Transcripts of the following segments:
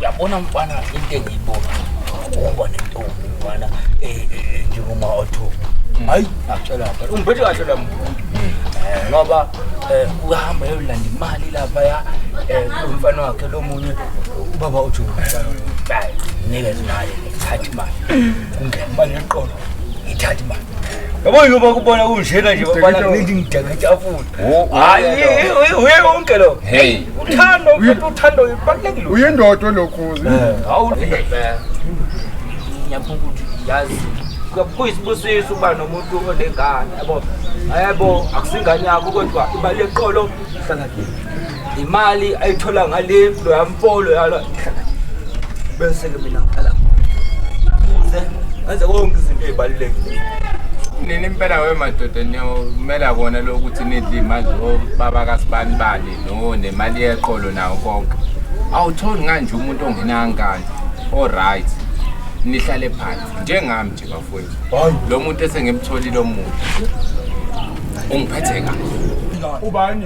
Yabona mfana into engiyibona ukuba nentombi mfana eh, eh, eh, njengoma othu mm. hayi akutshela phela umphethe kahle la muntu mm. ngoba uyahamba yolanda imali lapha ya umfana wakhe lo munye ubaba uthi hayi nikeze imali ngithathe imali kungena imali yeqolo ngithathe imali yabo yini uba kubona kunjena nje babana ngidinga idakatafuni hayi uye konke lo hey uthando uthando ibalekile uyindoda olokhozi eh, hawu eh. ngiyaphuma ukuthi yazi kuyisibusisa uba nomuntu onengane yabo yebo akusingane yakho kodwa ibaleqolo hlala kini imali ayithola ngale loya mfolo yalo bese-ke mina ngiqala kuze ngenze konke izinto ey'balulekile nini impela wemadoda niyomela kona lo ukuthi nidle imali obaba kasibani bani no nemali yeqolo nawo konke awutholi nganje umuntu ongenangane oright nihlale phansi njengami nje bafowethu lo muntu esengimtholile omuntu ungiphethe kahle ubani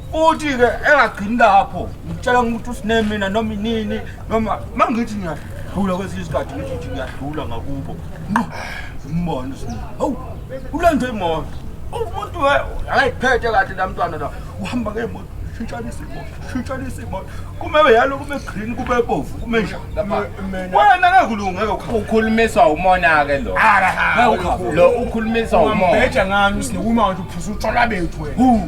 Futhi-ke engagcini lapho ngitshela ukuthi usine mina noma inini noma uma ngithi ngiyadlula kwesinye isikhathi ngithi ukuthi ngiyadlula ngakubo nqo umbone usine hawu ulenze imoto umuntu akayiphethe kahle namntwana la uhamba ngemoto shintshanisa imoto shintshanisa imoto kume yalo kume green kube bovu kume njani lapha wena ngeke ulungeke ukha ukhulumiswa umona ke lo ngeke ukha lo ukhulumiswa umona Beja ngani usine uma nje uphuza utshwala bethu wena.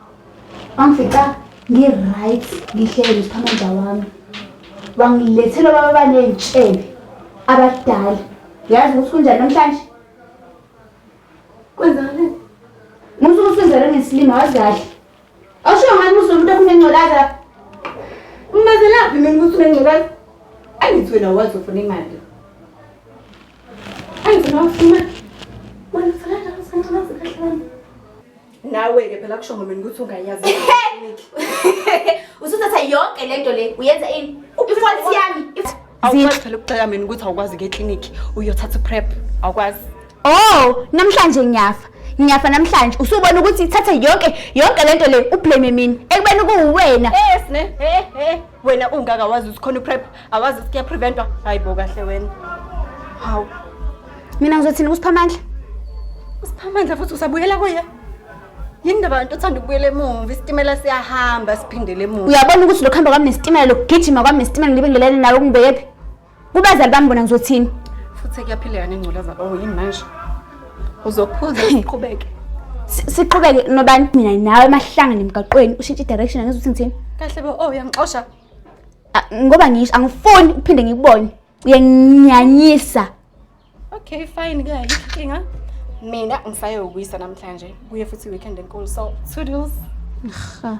wangifica ngi-right ngihlele ngiphamaja wami wangilethela baba baney'tshebe abadala yazi ukuthi kunjani namhlanje kwenzani musuke usizele ngesilima wazi kahle awushiyo ngani musuke umuntu okunengculaza umazelaphi mina ukuthi unengculaza angithi wena wazi ufuna imali angithi nawufuna wena usalala usanculaza kahle wami nawe-ke phela kusho ngomini ukuthi ungayazi usuthatha yonke le nto le uyenza ini ifonsi yami if- awukwazi phela ukuxeka mina ukuthi awukwazi ke eklinikhi uyothatha uprep awukwazi oh namhlanje ngiyafa ngiyafa namhlanje usubona ukuthi ithathe yonke yonke le nto le ublame mina ekubeni kuwuwena Yes ne. Eh eh wena ungaka wazi ukuthi khona uprep. awazi ukuthi kuyapreventwa hayi bo kahle wena hawu mina ngizothini kusiphamandla usiphamandla futhi usabuyela kuye yini ndaba nto othanda ukubuyela emuva isitimela siyahamba siphindele emuva uyabona ukuthi lokuhamba kwami nesitimela lokugijima kwami nesitimela ngibe ngelene nawe kungibekephi kubazali bami bona ngizothini futhi kuyaphileka nengculaza oh yini manje uzophuza siqhubeke Si- siqhubeke nobani mina nawe emahlanga nemgaqweni ushintshe i-direction angizi ukuthi ngithini kahle bo oh uyangixosha ngoba ngisho angifuni uphinde ngikubone uyanginyanyisa okay fine ke ayikho mina ngisaye ukuyisa namhlanje kuye futhi weekend enkulu so two deals ha